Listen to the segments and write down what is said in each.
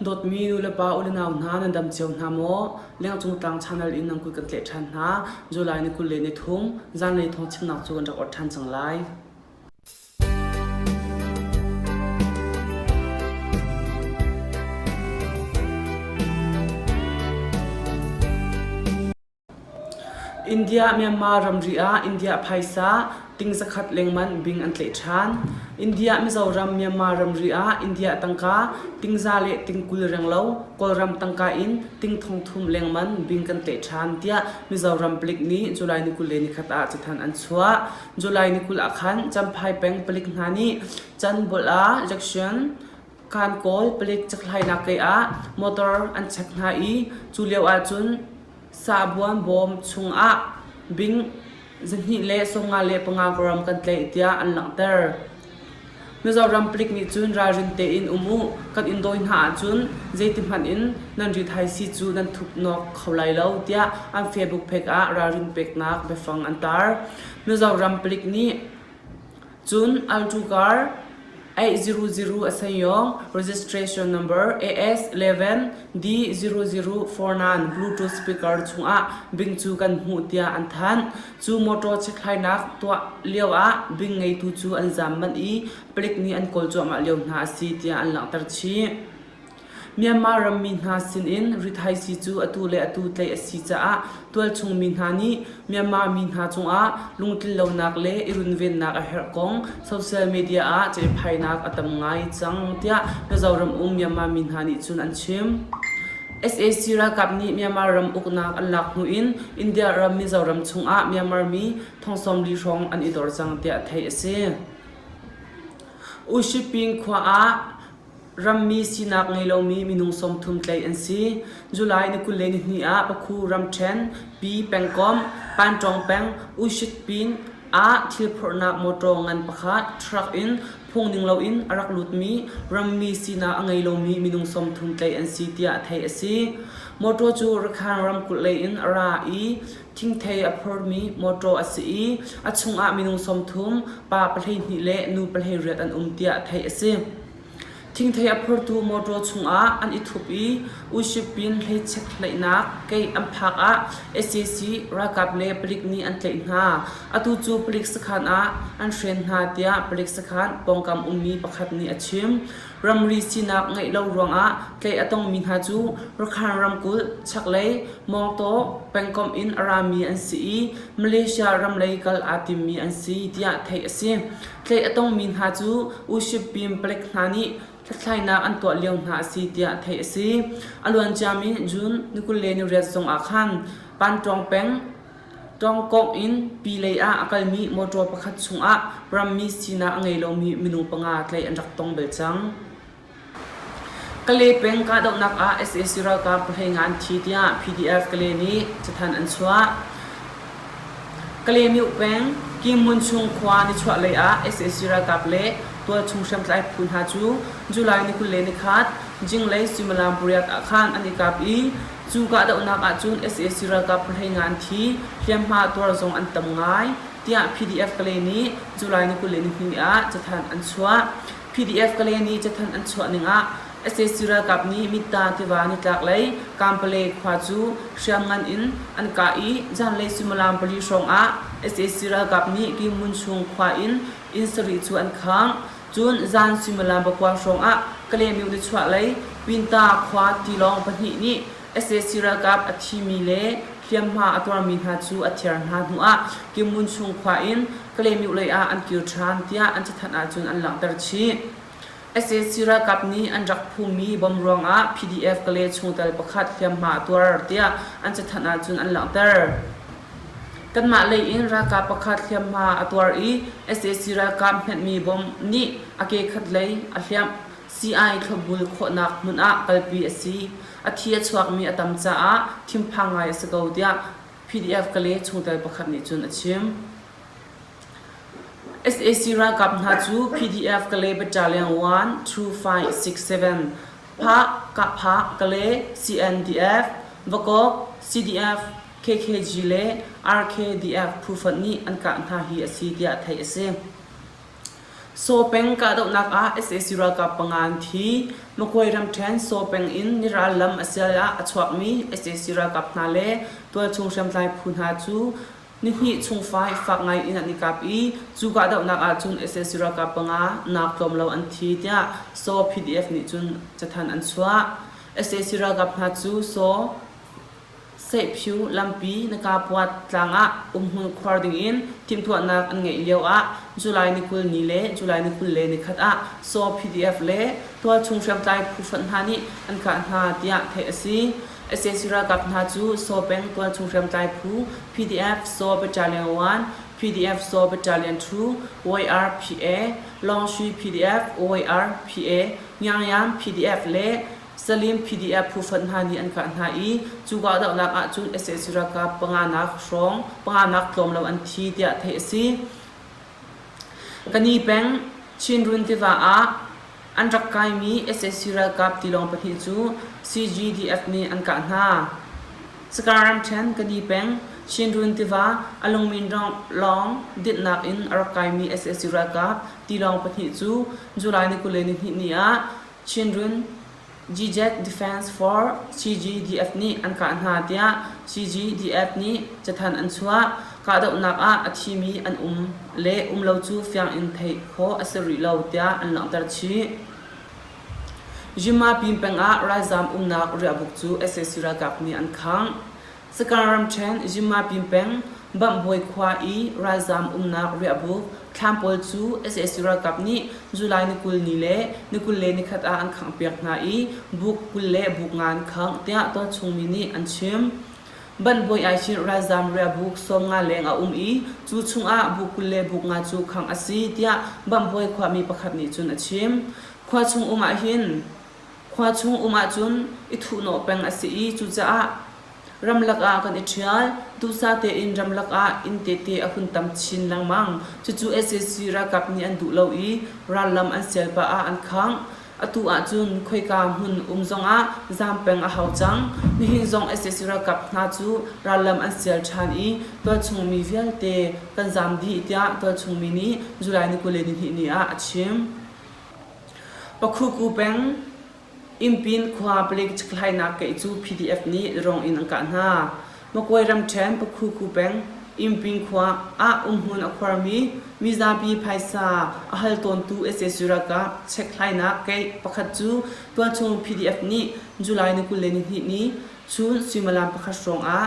Dawtmi nulepa unau hna nan dam cio hna maw? Lengcung tlang channel in nan kut kan tleh ṭhan hna. July ni kul le ni thum zanlei thawng chimnak cu kan rak orh ṭhan cang lai. India-Myanmar ramri ah India phaisa ting zakhat lengmanh bing an tlaih ṭhan. India-Mizoram Myanmar ramri ah India tangka ting za le ting kul reng lo Kawlram tangka in ting thong thum lengman bing kan tlaih ṭhan, tiah Mizoram palik nih July ni kul le ni khat ah cathanh an chuah. July ni kul ah khan Champhai peng palik hna nih can bolh ah election Kaan kawl palik cakhlainak kei ah motor an chek hna i cu lio ahcun sahbuam bawm chungah bing zahnih le sawmnga le panga varam kan tlaih tiah an langhter. Mizoram palik nih cun ralrin tein um u kan in dawi hna ahcun zeitihmanh in nan ri thaisi cu nan thup nawk kho lai lo tiah an Facebook pek ah ralrin peknak biafang an tar. Mizoram palik nih Cun Altugar A000 a saiawng registration number AS11D004nan Bluetooth speaker chungah bing cu kan hmuh tiah an thanh. Cu motor chithlainak tuah lio ah bing ngeitu cu an zam manh i palik nih an kawl cuahmah lio hna a si tiah an langhter chih. Myanmar rammi hna sinin rithaisi cu atu le atu tlaih a si caah tualchungmi hna nih Myanmar mi hna cungah lungtlinlonak le i runvennak a herh kong social media ah cehphainak a tam ngai cang tiah Mizoram um Myanmar mi hna nih cun an chim. SAC ralkap nih Myanmar ram uknak an lak hnu in India ram Mizoram chungah Myanmar mi thongsawmli hrawng an i dor cang tiah theih a si. Ushiping khua ah Rammi sinak ngei lomi minung sawmthum tlaih an si. July ni kul le ni hnih ah Pakhu ramṭhen, Pi pengkomh, Pantawng peng, Ushitpin ah thil phorhnak mawṭaw ngan pakhat truck in phung ning loin a rak lutmi rammi sinak a ngei lomi minung sawmthum tlaih an si tiah theih a si. Mawṭaw cu Rakhine ramkulh leiin a ra i Thingthei a phormi mawṭaw a si i a chungah minung sawmthum, pa pahleihnih le nu pahleiriat an um tiah theih a si. Thingthei a phortu mawṭaw chungah an i thup i Ushipin hleichiat hleihnak kei an phak ah sac ralkap le palik nih an tlaih hna. Atu cu palik sakhan ah an hren hna tiah palik sakhan pawngkam ummi pakhat nih a chim. Ramri sinak ngeih lo ruangah tlaih a tongmi hna cu Rakhine ramkulh, chaklei, mawngtaw pengkomh in a rami an si i Malaysia ram lei kal aa timmi an si tiah theih a si. Tlaih a tongmi hna cu Ushipin palik hna nih hlathlainak an tuah lio hna a si tiah theih a si. A luanciami June ni kul le ni riat zongah khan Pantawng peng, Ṭawngkawngh in pi lei ah a kalmi mawṭaw pakhat chungah rammi sinak a ngei lomi minung panga tlaih an rak tong bel cang. Kale peng kahdohnak ah sac ralkap pahlei ngan thi tiah PDF Kale nih cathanh an chuah. Kale mioh peng Kimmun chung khua nichuah lei ah sac ralkap le tualchung hriamtlai phu hna cu July ni kul le ni khat jinglei suimilam pariat ah khan an i kap i Cu kahdohnak ahcun sac ralkap pahlei ngan thi hliamhma tuar zong an tam ngai, tiah PDF-Kale nih July ni kul le ni hnih ah cathanh an chuah. PDF-Kale nih cathanh an chuah ning ah sac ralkap nih Mitta tiva nitlaklei Kampale khua cu hriamngan in an kah i zanlei suimilam pali hrawng ah sac ralkap nih Kyi Mun Sung khua in inn sarih cu an khang. Cun zan suimilam pakuang hrawngah Kalaymyo nichuahlei Pinta khua tilawng pahnih nih sac ralkap a thimi le hliamhma a tuarmi hna cu a thiar hna hnuah Kimmun chung khua in Kalaymyo lei ah an kir ṭhan tiah an cathanh ahcun an langhter chih. sac ralkap nih an rak phummi bomb ruangah PDF Kale chungtel pakhat hliamhma a tuar tiah an cathanh ahcun an langhter. Kanmah lei in ralkap pakhat hliamhma a tuar i sac ralkap hmanhmi bomb nih a kekhat lei a hliamh. Sii-ai thlopbul khawhnak hmun ah kalpi a si. A thi a chuakmi a tam caah thinphang ngai a si ko tiah PDF Kale chungtel pakhat nih cun a chim. sac ralkap hna cu PDF Kale Battalion 1 2567 PAK, Kahpah, Kale, CNDF, Vakok, CDF, KKG le RKDF phu fonh nih an kah hna hi a si tiah theih a si. Saw peng kahdohnak ah sac ralkap panga an thi. Makoi ramṭhen Saw peng in Niral lam a sial ah a chuakmi sac ralkap hna le tualchung hriamtlai phu hna cu nihnih chung fai fak ngai in an i kap i cu kahdohnak ahcun sac ralkap panga nak tlawm lo an thi tiah Saw PDF nih cun cathanh an chuah. sac ralkap hna cu Saw Seihphu lampi na kapuat tlang ah umhmun khuar dingin timhtuahnak an ngeih lioah July ni kul ni le July ni kul le ni khat ah saw PDF le tualchung hriamtlai phu hrawnh hna nih an kah hna tiah theih a si. sac ralkap hna cu saw peng tualchung hriamtlai phu PDF saw Battalion 1, PDF saw Battalion 2, YRPA, Lawngshui PDF, YRPA, Nyangyam PDF le Salim PDF phuhrun hna nih an kah hna i cu kahdohnak ahcun sac ralkap panganak hrawng panganak tlawm lo an thi tiah theih a si. Kani peng Chinrun tiva ah an rak kaimi sac ralkap tilawng pahnih cu CGDF nih an kah hna. Sakar ramṭhen Kani peng Chinrun tiva a lungmin lawng dinhnak in a rak kaimi sac ralkap tilawng pahnih cu July ni kul le ni hnih ni ah Chinrun, GJET Defence Force, CGDF nih an kah hna tiah CGDF nih cathanh an chuah. Kahdohnak ah a thimi an um le um lo cu fiang in theih khawh a si rih lo tiah an langhter chih. Zhimma pin pengah ralzaam umnak riahbuk cu sac ralkap nih an khangh. Saka ramṭhen Zuma pin peng Bangbawi khua i ralzaam umnak riahbuk thlam pawl cu sac ralkap nih July ni kul ni le ni kul le nikhat ah an khanghpiak hna i buk kul le buk nga an khangh tiah tualchungmi nih an chim. Banbawi Aichin ralzaam riahbuk sawm nga leng a um i cu chungah buk kul le buk nga cu khangh a si tiah Bangbawi khuami pakhat nih cun a chim. Khua chung um ahhin Khua chung um ahcun i thuhnawh peng a si i cucaah ramlak ah kan i ṭhial. Duhsah tein ramlak ah inn tete a hun tam chin lengmang. Cucu sac ralkap nih an duh lo i rallam an sial pah ah an khangh. Atu ahcun khoika hmun um zongah zaam peng a hau cang. Nihin zong sac ralkap hna cu rallam an sial ṭhan i tualchungmi vialte kan zaam dih tiah tualchungmi nih July ni kul le nihnih ni ah a chim. Pakhuku peng Impin khua palik cikhlainak keih cu PDF nih rong in an kah hna. Makwe ramṭhen Pakhuku peng Impin khua ah umhmun a khuarmi mizapi phaisa a hal tawntu sac ralkap chekhlainak keih pakhat cu tualchung PDF nih July ni kul le nihnih ni chun suimilam pakhat hrawng ah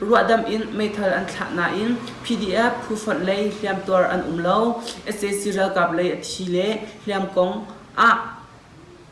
Ruahdamh in meithal an thlah nain PDF phu fonh lei hliamtuar an um lo, sac ralkap lei a thi le hliam kong ah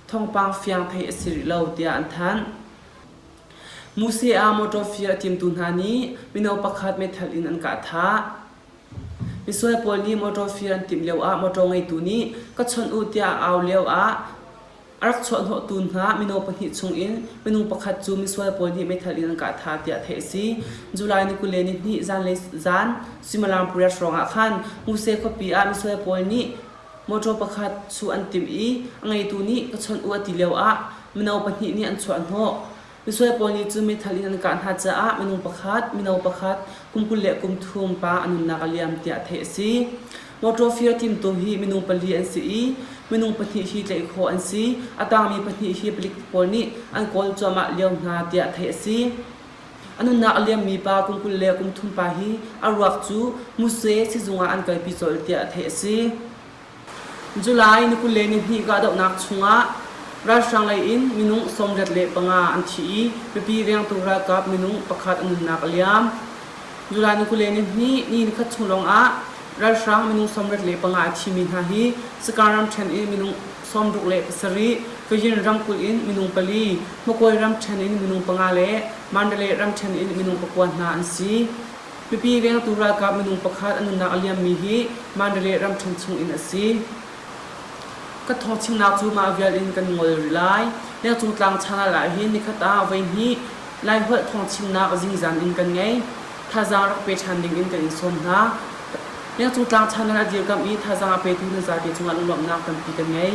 thawngpang fiang theih a si rih lo, tiah an thanh. Musea motor fir a timtu hna nih mino pakhat meithal in an kah thah. Misual pawl nih motor fir an timh lio ah motor ngeitu nih ka chawnh u tiah a au lio ah A rak chuahhnawhtu hna mino pahnih chungin minung pakhat cu misual pawl nih meithal in an kah tha tiah theih a si. July ni kule ni hnih zanlei zan Suimilam pariat hrawngah khan Muse khuapi ah misual pawl nih motor pakhat chuh an timh i a ngeitu nih ka chawnh u a ti lioah mino pahnih nih an chuahhnawh. Misual pawl nih cu mithal in an kah hna caah minung pakhat, mino pakhat, kum kul le kum thum pa a nunnak a liam tiah theih a si. Motor fir timtu hi minung pali an si i minung pahnih hi tlaih khawh an si. A tangmi pahnih hi palik pawl nih an kawl cuahmah lio hna tiah theih a si. A nunnak a liammi pa kum kul le kum thum pa hi a ruak cu Muse sizung ah an kalpi colh tiah theih a si. July ni kul le nihnih kahdohnak chungah ralhrang lei in minung sawmriat le panga an thi i mipi riangtu ralkap minung pakhat an nunnak a liam. July ni kul le nihnih ni nikhat chung lawngah ralhrang minung sawmriat le panga a thimi hna hi Sakang ramṭhen in minung sawmruk le pasarih, Fayin ramkulh in minung pali, Hmakoi ramṭhen in minung panga le Mandalay ramṭhen in minung pakua hna an si. Mipi vengtu ralkap minung pakhat a nunnak a liammi hi Mandalay ramṭhen chung in a si. Ka thawchimnak cu mah vial in kan ngol rih lai. Lengcung tlang channel ah hin nikhat ah voihnih Laiholh thawngchimnak zingzan in kan ngei. Thazaang rak pe ṭhan ding in kan in sawm hna. Lengcung tlang channel a dirkamh i thazaang a petu na zate cungah lunglawmhnak tampi kan ngei.